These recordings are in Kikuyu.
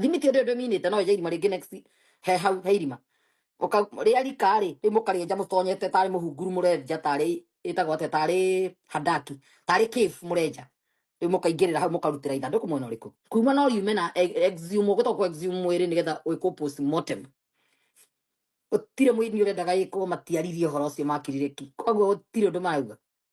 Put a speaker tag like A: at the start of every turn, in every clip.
A: thimiti ĩrĩa ndĩminĩte no ĩje irima rĩngĩ next he hau he irima Ũka- rĩa rika rĩ rĩu mũkarĩenja mũtonyete tarĩ mũhunguru mũrenja tarĩ ĩtagwo atĩa tarĩ handaki tarĩ cave mũrenja rĩu mũkaingĩrĩra hau mũkarutĩra ithandũkũ mwena ũrĩkũ kuma no riume na e- exhume ũgũta kũ exhume mwĩrĩ nĩgetha wĩkwo postmortem gũtirĩ mũini ũrendaga ĩkwo matiaririe ũhoro ũcio makirire ki koguo gũtirĩ ũndũ marauga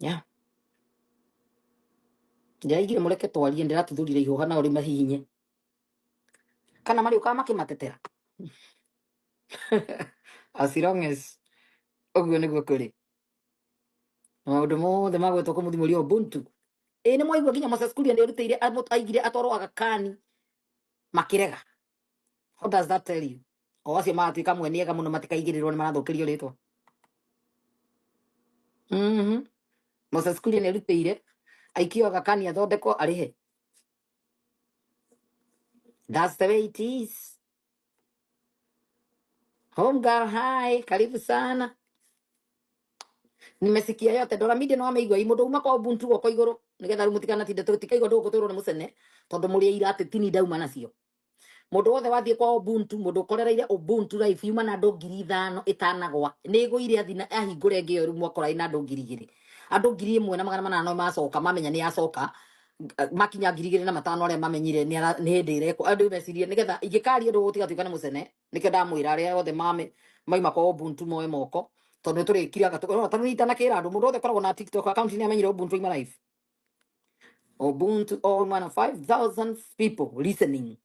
A: Yeah. Ndĩraigire mũreke twarie ndĩratuthurire ihũha na ũrĩ mahihinye. Kana marĩ ũkaga makĩmatetera. As long as ũguo nĩguo kũrĩ. Na maũndũ mothe magwetwo kũmũthimũria Ubuntu. Ĩĩ nĩ mwaigua nginya Moses Kuria nĩ erutĩire amũ- aigire atwarwo agakani makĩrega. How does that tell you? O acio magatuĩka amwe nĩ ega mũno matikaigĩrĩrwo nĩ marathũkĩrio rĩtwa. Mhm. Moses Kuria nĩ arutĩire aikio agakani athondekwo arĩhe. That's the way it is. Home girl, hi, karibu sana. nimesikia yote doramide no ameigua i mundu uma kwa ubuntu guoko iguru nigetha riu mutikanatinde tikaigua ndu guturwo ni mucene tondu muri ira ati tini ndauma nacio mundu wothe wathie kwa ubuntu mundu ukorereire ubuntu life yuma na andu ngiri ithano itanagwa ni igwire athi na ahingure ngi yoru mwakora ina andu ngiri igiri andu ngiri imwe na magana manana no macoka mamenya ni acoka eh, makinya ngiri igiri na matano aria mamenyire ni ara- ni hindi irekwo andu mecirie nigetha ingikaria ndu gutigatuika ni mucene nĩkĩo ndamwĩra arĩa othe mame maima kwa Ubuntu moe moko tondũ nĩ tũrĩkire gatũ no tondũ itanakĩra andũ mũndũ othe koragwo na TikTok account nĩ amenyire Ubuntu ima live Ubuntu all man 5000 people listening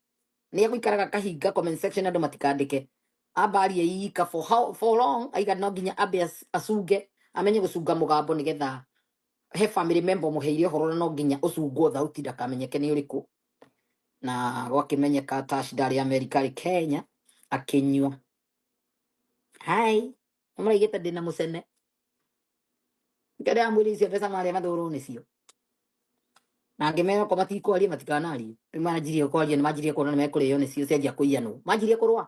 A: nĩ egũikaraga kahinga comment section andũ matikandĩke ambarie yika for how for long aiga no nginya ambe ac- acunge amenye gũcunga mũgambo nĩgetha he family member mũheire ũhoro na no nginya ũcungwo thauti ndakamenyeke nĩ ũrĩkũ na gwakĩmenyeka Tash ndarĩ Amerika arĩ Kenya akĩnyua hai mũraigĩte ndĩna mũcene ngĩrĩa mwĩrĩ icio mbeca marĩa mathũrwo nĩcio na ngĩmera ko matikwaria matikanaria rĩu manjirie kwaria nĩ manjirie kuona nĩ mekũrĩo nĩcio cianjia kũiyanwo manjirie kũrũa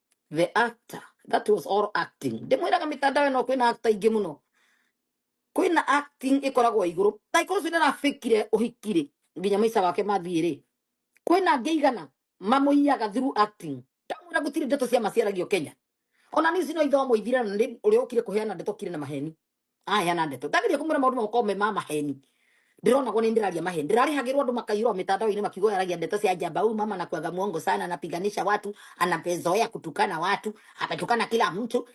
A: the actor that was all acting ndimwiraga mitandao ĩno kwĩna actor ingĩ mũno kwĩna acting ĩkoragwo igũrũ like ũcio nĩarafikire ũhikire nginya maica wake mathiĩ rĩ kwĩna angĩ igana mamũiyaga through acting ndamwĩra gũtirĩ ndeto cia maciaragio kenya ona nĩ ici no ithomo ithire na nĩ ũrĩa ũkire kũheana ndeto kire na maheni aya na ndeto ndagä kå mwä ra maå ndå magåkorwo me ma maheni ndä rona gå nä ndä raria maheni ndä rarä hagä rwo andå makairwo mä tandaoinä makiuga yaragia ndeto cia njamba huyu mama nakuaga mwongo sana anapiganisha watu anapezoea kutukana watu ametukana kila mtu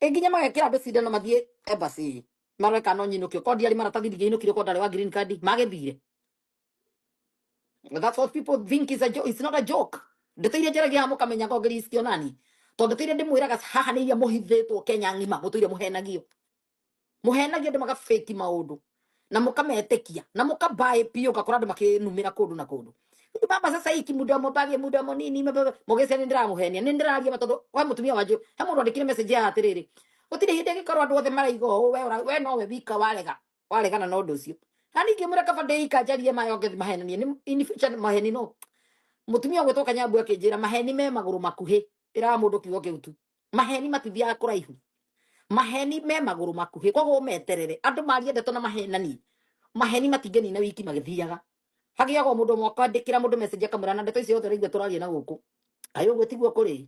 A: Ĩ nginya magekĩra andũ cindano mathiĩ embassy marore kana no nyinũkio ko ndiarĩ maratathi ndingĩinũkire ko ndarĩ wa green card magĩthire But that's what people think is a joke. It's not a joke. Ndeteire njere gya muka menya ko Kristo nani. To ndeteire ndi mwira gas haha ni ya muhithetwo Kenya ngima mutuire muhenagio. Muhenagio ndi maka fake maundu. Na muka metekia. Na muka bae pio kakora ndi makinumira kundu na kundu. Ni baba sasa hiki muda mobage muda monini mababa mogese ni ndira muhenia ni ndira aria matodo kwa mutumia waju. He mundu andikire message ya atiriri. Gutire hindi ngikorwo andu othe maraigo we ora- we no we wika warega. waregana na ũndũ ũcio na ningĩ mwĩra kaba ndĩika njarie mayonge mahenanie nĩ in future maheni no mutumia gwĩtwo kanyambu akĩnjĩra maheni me magũrũ makuhĩ ĩraga mũndũ kiugo kĩu tu maheni matithiaga kũraihu maheni me magũrũ makuhĩ koguo meterere andũ maria ndeto na mahenani maheni matingĩnina wiki magĩthiaga hagĩaga o mũndũ ũmwe akandĩkĩra mũndũ message akamwĩra na ndeto icio othe ũraigua tũraria na gũkũ kaĩ ũguo tiguo kũrĩ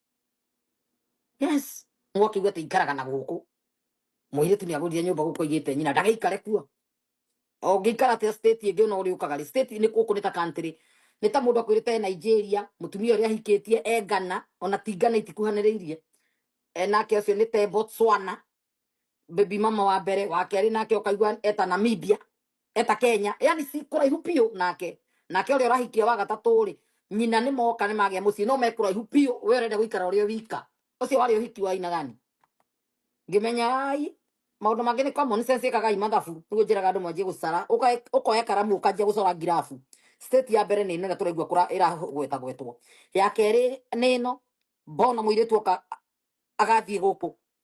A: yes mwakiuga ati ikaraga na guku muiritu ni agurire nyumba guku igite nyina ndagaikare kuo ongikara ati state ingi no uri ukaga state ni guku ni ta country ni ta mundu akwirite Nigeria mutumia uria ahikitie e Ghana ona ti Ghana itikuhaniriirie e nake ucio ni te Botswana baby mama wa mbere wa kerĩ nake ũkaigua eta namibia eta kenya yani si kũraihu biũ nake nake ũrĩa ũrahikia wa gatatũ rĩ nyina nĩ moka nĩ magĩa mũciĩ no me kũraihu biũ we ũrenda gũikara ũrĩ wika ũcio warĩ ũhiki wa aina gani ngimenyarai maũndũ mangĩ nĩ common sense ĩkagai mathabu nĩguo njĩraga andũ mwanjie gũcara Ũkae- ũkoya karamu ũkanjia gũcora ngirabu state ya mbere nĩ ĩno ĩrĩa tũraigua kũra ĩragwetagwetwo ya kerĩ nĩ ĩno mbona mũirĩtu oka agathiĩ gũkũ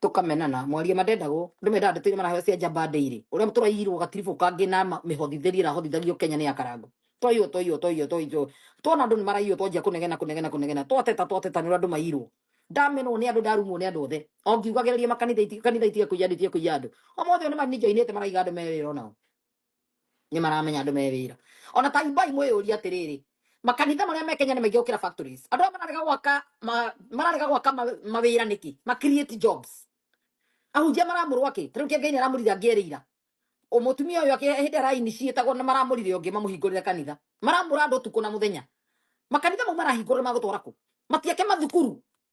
A: tũkamenana mwaria matendagwo nĩ mendaga ndeto iria maraheo cia njamba ndĩirĩ ũrĩa tũraiyirwo gatiribũ kangĩ na ma- mĩhothithĩrie ĩrahothithagio kenya nĩ ya karango twaiywo twaiywo twaiywo twaiywo twona andũ nĩ maraiywo twanjia kũnegena kũnegena kũnegena twateta twateta nĩ ũrĩa andũ maiyirwo ndamenwo nĩ andũ ndarumwo nĩ andũ othe o ngiugagĩrĩria makanitha iti- kanitha itige kũiya andũ itige kũiya andũ omothe nĩ maninjainĩte maraiga andũ me wĩra onao nĩ maramenya andũ me wĩra ona ta imbai mwĩyũria atĩrĩrĩ makanitha marĩa me Kenya nĩ maingĩ gũkĩra factories andũ arĩa mararega gwaka ma- mararega gwaka ma- mawĩra nĩkĩ ma create jobs ahunjia maramũrwa kĩ tarĩu kĩa ngai nĩ aramũrire angĩerĩira mũtumia ũyũ akĩ- hĩndĩ araini ciĩtagwo na maramũrire ũngĩ mamũhingũrĩre kanitha maramũra andũ ũtukũ na mũthenya makanitha mau marahingũrĩra magũtwara kũ matiake mathukuru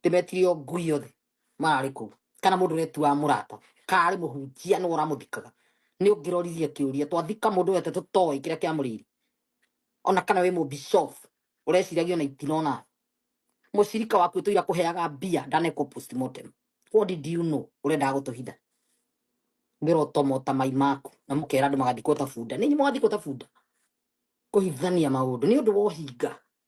A: ndĩmetirie o ngui othe mararĩ kũu kana mũndũ ũretuaga mũrata karĩ mũhunjia nĩ ũramũthikaga nĩ ũngĩroririe kĩũria twathika mũndũ wete tũtoĩ kĩrĩa kĩamũrĩire ona kana wĩ mũbishop ũreciragia ona itinona mũcirika waku ũtũira kũheaga mbia ndanekwo postmortem what did you know ũrendaga gũtũhitha ngĩrotomota mai maku na mũkera andũ magathikwo ta bunda nĩ inyuĩ mũgathikwo ta bunda kũhithania maũndũ nĩ ũndũ wa ũhinga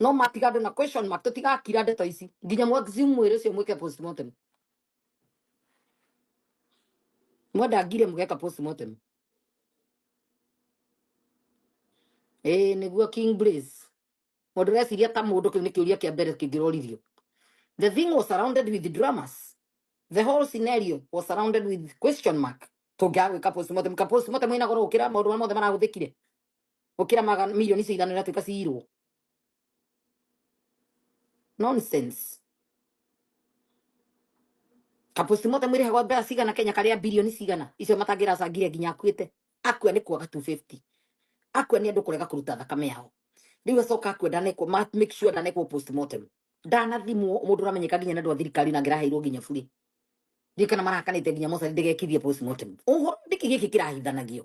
A: no matigande na question mark tutigakira ndeto ici nginya mwagizi mwĩrĩ ũcio mwĩke postmortem mwenda ngire mũgeka postmortem ĩĩ nĩguo king blaze mũndũ ũreciria ta mũndũ kĩu nĩ kĩũria kĩa mbere kĩngĩroririo the thing was surrounded with dramas the whole scenario was surrounded with question mark tũngĩaga gwĩka postmortem ka postmortem ĩna goro gũkĩra maũndũ marĩa mothe marahũthĩkire gukira magana milioni icio ithano iratuika ciirwo nonsense kapostimote mwire hagwa mbea cigana kenya karia bilioni cigana icio matangiracangire nginya akuite akua ni kwaga 250 akua ni andu kurega kuruta thakame yao riu acoka akua ndanekwo ma make sure ndanekwo postmortem ndanathimwo mundu uramenyeka nginya na andu a thirikari na ngiraheirwo nginya buri ndirikana marakanite nginya mocarä ndä gekithie postmortem å horo ndä kä gä kä kä rahithanagio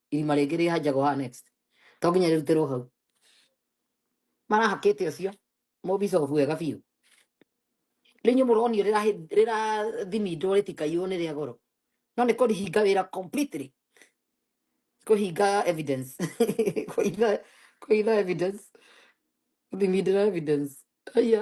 A: irima rĩngĩ rĩhanjagwo haha next to nginya rĩrutĩrwo hau marahakĩte ũcio mũbicobu wega biũ rĩu inyuĩ mũronio rĩrahi- rĩrathimindwo rĩtikaiywo nĩ rĩa goro no nĩ kũhinga wĩra completely kũhinga evidence kũhinga kũhinga evidence kũthimindĩra evidence aya